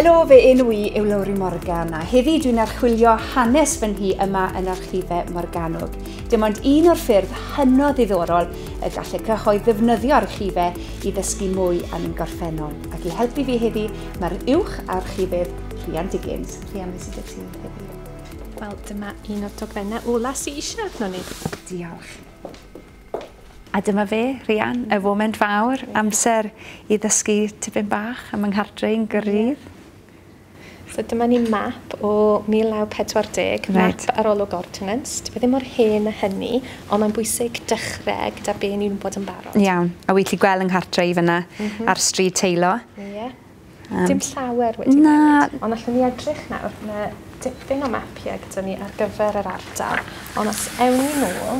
Helo, fe enw i yw Lowri Morgan a heddi dwi'n archwilio hanes fy nhi yma yn archifau Morganwg. Dim ond un o'r ffyrdd hynod ddiddorol y gallu cyhoedd ddefnyddio archifau i ddysgu mwy am ein gorffennol. Ac i helpu fi heddi, mae'r uwch archifydd Rhian Diggins. Rhian, beth sydd ti heddi? Wel, dyma un o'r dogfennau ola sy eisiau arno ni. Diolch. A dyma fe, Rhian, y foment fawr, amser i ddysgu tipyn bach am yng nghardre i'n gyrrydd. So dyma ni map o 1940, map arolwg ordnance. Dyw e ddim mor hen a hynny, ond mae'n bwysig dechrau gyda be ni'n bod yn barod. Iawn, a wyt ti gweld yng nghartre i fyna mm -hmm. ar stryd Teilo? Ie. Yeah. Um, Dim llawer wedi na. newid, ond allwn ni edrych nawr, mae dipyn o mapiau gyda ni ar gyfer yr ardal, ond os ewn ni nôl,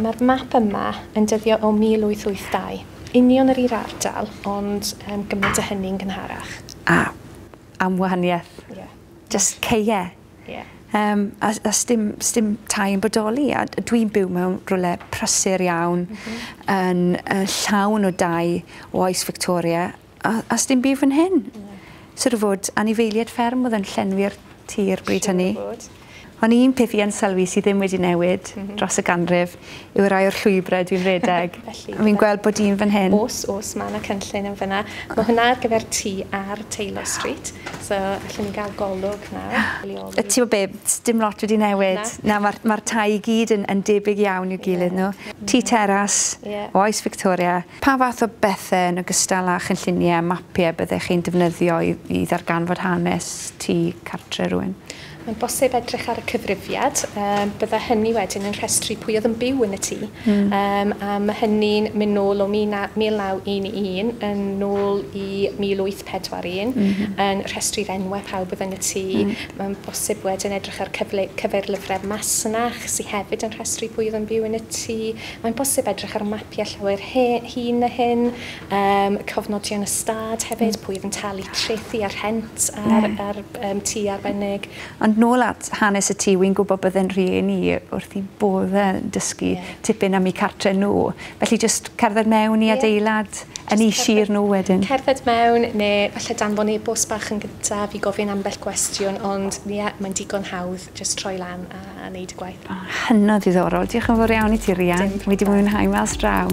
Mae'r map yma yn dyddio o 1882. Union yr un ardal, ond yym gymaint o hynny'n gynharach. A am wahaniaeth. Ie. Jyst caee. Ie. Yym a s- a sdim sdim tai yn bodoli a d- dwi'n byw mewn rywle prysur iawn. M-hm. Yn yy llawn o dai o oes Victoria. A a sdim byd fyn hyn. Na. Siŵr o fod anifeilied fferm o'dd yn llenwi'r tir bryd hynny. Siŵr o fod. On' un peth fi yn sylwi sy ddim wedi newid... M-hm. ...dros y ganrif yw y rai o'r llwybre dwi'n redeg. Felly. A fi'n gweld bod un fyn hyn. O's o's ma' 'na cynllun yn fyn 'na. Ma' hwnna ar gyfer ti ar Taylor Street. So allen ni ga'l golwg nawr. A t'mo' be' sdim lot wedi newid. Na? Na ma'r ma'r tai i gyd yn yn debyg iawn i'w gilydd n'w. Ie. Tŷ teras. Ie. Oes Victoria. Pa fath o bethe, yn ogystal â chynlluniau a mapiau, byddech chi'n defnyddio i ddarganfod hanes tŷ cartre rhywun? Mae'n bosib edrych ar y cyfrifiad. Bydda hynny wedyn yn rhestru pwy oedd yn byw yn y tŷ. A mae hynny'n mynd nôl o 1911 yn nôl i 1841, yn rhestru'r enwau pawb oedd yn y tŷ. Mae'n bosib wedyn edrych ar cyfeirlyfrau masnach, sydd hefyd yn rhestru pwy oedd yn byw yn y tŷ. Mae'n bosib edrych ar mapiau llawer hŷn na hyn, yym, cofnodion ystâd hefyd, pwy oedd yn talu trethi a rhent ar, ar um, tŷ arbennig. Ond nôl at hanes y tŷ, wy'n gwybod bydde'n rhieni wrth i bodd yn dysgu yeah. tipyn am eu cartre nhw. Felly jyst cerdded mewn i yeah. adeilad yn ei sir nhw wedyn. Cerdded mewn, neu falle danfon e-bost bach yn gyntaf i gofyn ambell gwestiwn, ond ie, yeah, mae'n digon hawdd. jyst troi lan a neud y gwaith. O, hynod ddiddorol. Diolch yn fawr iawn i ti, Rhian. Wedi mwynhau mas draw.